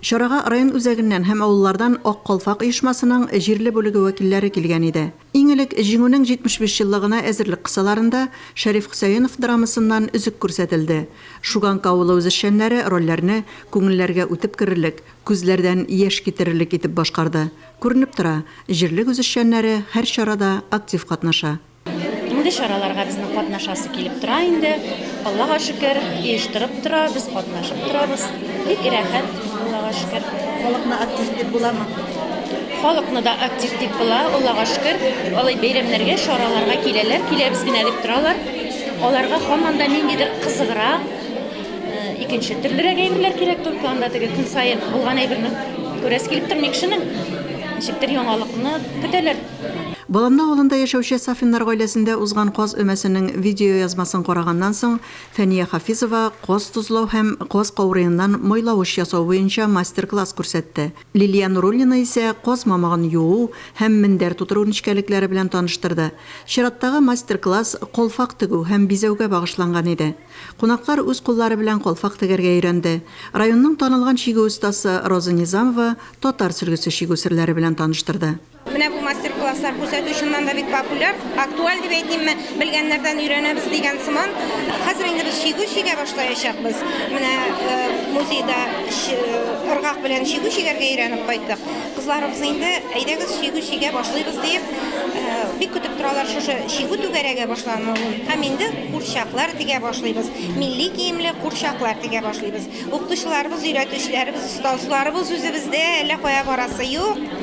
Чарага район үзәгеннән һәм авыллардан Ак калфак оешмасының җирле бүлеге вәкилләре килгән иде. Иң элек Җиңүнең 75 еллыгына әзерлек кысаларында Шәриф Хөсәенов драмасыннан өзек күрсәтелде. Шуганка авылы үзешчәннәре рольләрне күңелләргә үтеп керерлек, күзләрдән яшь китерерлек итеп башкарды. Күренеп тора, җирлек үзешчәннәре һәр чарада актив катнаша. Мондый чараларга безнең катнашасы килеп тора инде. Аллага шөкер, оештырып тора, без катнашып торабыз. Бик рәхәт, Аллага шөкер. Халыкны актив дип буламы? Халыкны да актив дип була, Аллага шөкер. Алай бәйрәмнәргә, чараларга киләләр, киләбез генә дип торалар. Аларга һаман да ниндидер кызыграк, икенче төрлерәк әйберләр кирәк, только анда теге көн саен булган әйберне күрәсе килеп тормый кешенең. Ничектер яңалыкны көтәләр. Баламны авылында яшәүче Сафиннар гаиләсендә узган каз өмәсенең видеоязмасын караганнан соң, Фәния Хафизова каз тозлау һәм каз каурыеннан майлавыч ясау буенча мастер-класс күрсәтте. Лилия Нуруллина исә каз мамыгын юу һәм мендәр тутыру нечкәлекләре белән таныштырды. Чираттагы мастер-класс калфак тегү һәм бизәүгә багышланган иде. Кунаклар үз куллары белән калфак тегәргә өйрәнде. Районның танылган чигү остасы Роза Низамова татар сөлгесе чигү серләре белән таныштырды. Менә бу мастер-класслар күрсәтү чыннан да бик популяр, актуаль дип әйтимме, белгәннәрдән өйрәнәбез дигән сыман. Хәзер инде без чигү чигә башлаячакбыз. Менә э, музейда ыргак белән чигү чигәргә өйрәнеп кайттык. Кызларыбыз инде әйдәгез чигү чигә башлыйбыз дип э, бик көтеп торалар шушы чигү түгәрәгә башлануын. Һәм инде курчаклар тигә башлыйбыз. Милли киемле курчаклар тигә башлыйбыз. Укытучыларыбыз, өйрәтүчеләребез, остазларыбыз үзебездә, әллә кая барасы юк.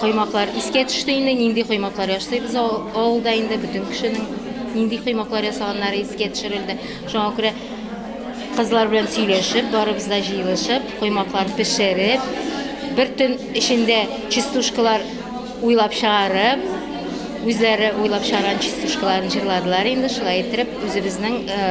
Коймаклар искә төште инде, нинди коймаклар ясыйбыз авылда инде бөтен кешенең нинди коймаклар ясаганнары искә төшерелде. Шуңа күрә кызлар белән сөйләшеп, барыбыз да җыелышып, коймаклар пешереп, бер төн эчендә частушкалар уйлап чыгарып, үзләре уйлап чыгарган частушкаларын җырладылар инде, шулай иттереп үзебезнең э,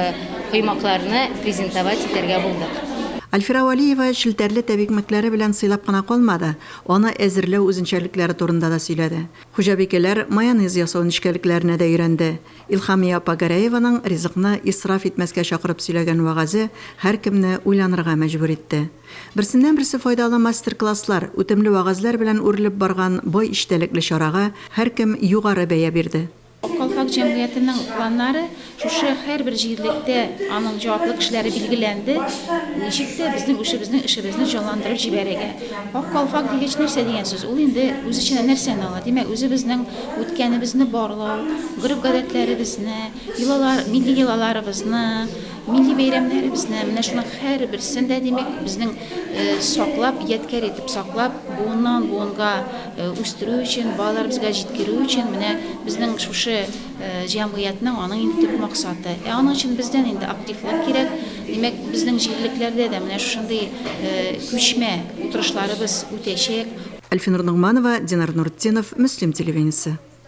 коймакларны презентовать итәргә булдык. Альфира Валиева челтәрле тәбикмәкләре белән сыйлап кына калмады. Аны әзерләү үзенчәлекләре турында да сөйләде. Хуҗабикәләр майонез ясау нечкәлекләренә дә өйрәнде. Илһамия апа Гәрәеваның ризыкны исраф итмәскә чакырып сөйләгән вәгазе һәркемне уйланырга мәҗбүр итте. Берсеннән-берсе файдалы мастер-класслар, үтемле вәгазьләр белән үрелеп барган бай эчтәлекле чарага һәркем югары бәя бирде. Ак калфак җәмгыятенең планнары шушы һәрбер җирлектә аның җаваплы кешеләре билгеләнде, ничек тә безнең үшебезнең эшебезне җанландырып җибәрергә. Ак калфак дигәч нәрсә дигән сүз? Ул инде үз эченә нәрсәне ала? Димәк, үзебезнең үткәнебезне барлау, гореф-гадәтләребезне, йолалар, милли йолаларыбызны, милли бәйрәмнәребезне, менә шуның һәрберсен дә, димәк, безнең саклап, ядкәр итеп саклап, буыннан-буынга үстерү өчен, балаларыбызга җиткерү өчен менә безнең шушы җәмгыятьнең аның инде төп максаты. Ә аның өчен бездән инде активлар кирәк. Димәк, безнең җирлекләрдә дә менә шушындый күчмә утырышларыбыз үтәчәк. Әлфинур Ногманова, Динар Нуртдинов, Мөслим телевидениесе.